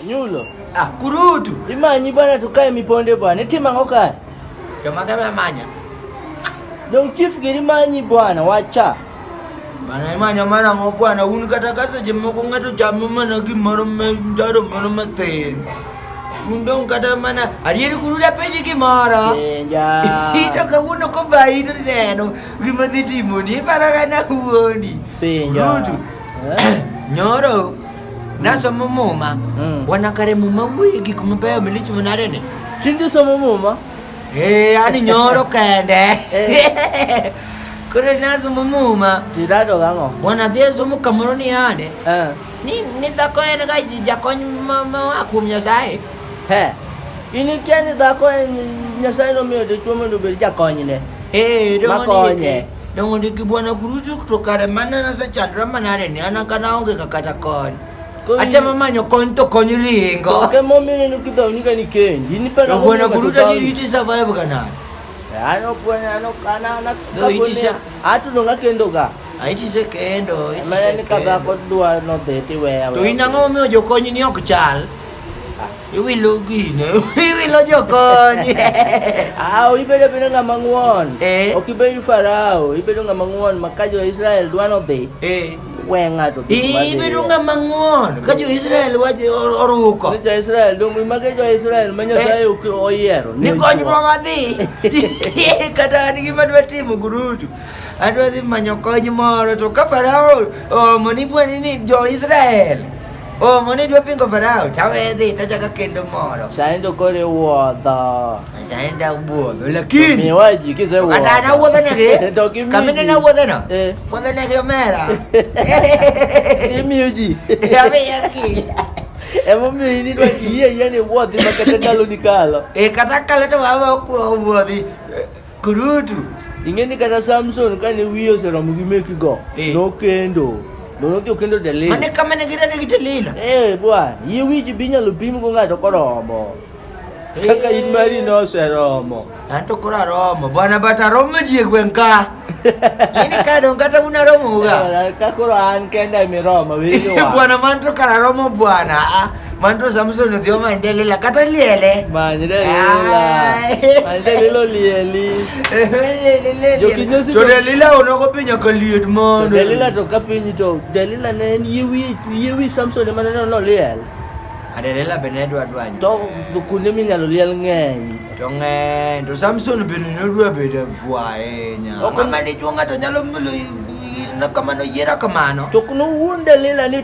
Nyulo. Ah, kurutu. Imanyi bwana tukae miponde bwana. Etima ngoka. Kama kama manya. Dong chief giri manyi bwana wacha. Bana imanya mara ngo bwana un kata kasa jemo ko ngato jamu mana gi moro me ndaro moro me ten. Un dong kata mana arieri kuruda peji ki mara. Enja. Ito ka uno ko bai to neno. Gima dhi timo ni para kana huondi. Penja. Kurutu. Eh? Nyoro. Nasomo Muma, mm. bwana kare Muma wuoye gik mabeyo milich manade ni. Tinde somo Muma? Eh, ani nyoro kende. Eh. Kore nasomo Muma. Tirado gang'o? Bwana bie somo kamoro ni ade. Eh. Ni ni dhako en ga jakony ma ma kuom Nyasaye. He. In ikia ni dhako en Nyasaye nomiyo dichwo mondo obed jakonyne. Eh, donge. Makonye. Dongo ndi kibwana kurutu kutokare mana na sa chandra manare ni ana kana onge kakata kon. Ate mamanyo kon to kon ringo. Ke momi ni nukidha unika ni kendi. Ni pera momi bwana kuruta ni iti survive kana. Ano bwana ano kana na kabone. Atu nonga kendo ka. Aiti se kendo. Mara ni kadha kodwa no dheti wewe. To inango mi ojokonyi ni ok chal. Iwilo gino, iwilo jokony. Aw, ibedo bedo ng'ama ng'won. Eh. Ok ibedo farao, ibedo ng'ama ng'won ma ka jo Israel dwa nodhi, Eh. we ng'ato dhi kuma dhi. Ibedo ng'ama ng'won ka jo-Israel wajo oruko. Ni jo Israel dong mage jo Israel ma Nyasaye ok oyiero. Ni kony ma wadhi. Kata an gima dwa timo gurudu. Adwa dhi manyo kony moro to ka Farao omo ni bwani ni jo-Israel. Oh, mon idwa pingo farao tawedhi tachaka kendo moro. Sani to koro iwuodho. Sani da wuodho lakini. Miwa ji kise wuodho. Kata na wuodho negi. To kimi. Kamene na wuodho no. Eh. Wuodho negi omera. Imiyo ji. Ya be ya ki. Emomiyo in idwa yie yie ni wuodhi ma kata ndalo ni kalo. Eh kata kalo to wawa wuodhi. Kurutu. Ing'e ni kata Samson kane wiye oseromo gi meki go, Eh. nokendo. To nodhi okendo Delila. Mane kama ne girade gi Delila. Eh, bwana, yie wiji bi nyalo pim go ng'ato koromo. Kaka in mari noseromo. An to koro aromo. Bwana but aromo ji e gweng' ka. Ini ka dong kata un aromo ga. Bwana, Ka koro an kenda emiromo, winjo wa. Bwana man to kar aromo bwana. Ah, Mandu Samson ndio maendelela kata liele. Maendelela. Maendelelo lieli. Jokinyo si. To Delila onoko pinya kaliet mondo. Delila to kapinyi to Delila ne en yewi yewi Samson ema ne no liel. Adelela bende dwa dwanyo. To kuonde minyalo liel ng'eny. To ng'eny to Samson bende ne dwa bedo fwa ahinya. Mama dichuo ng'ato nyalo mulo kamano yiera kamano. To kuno wuon Delila ni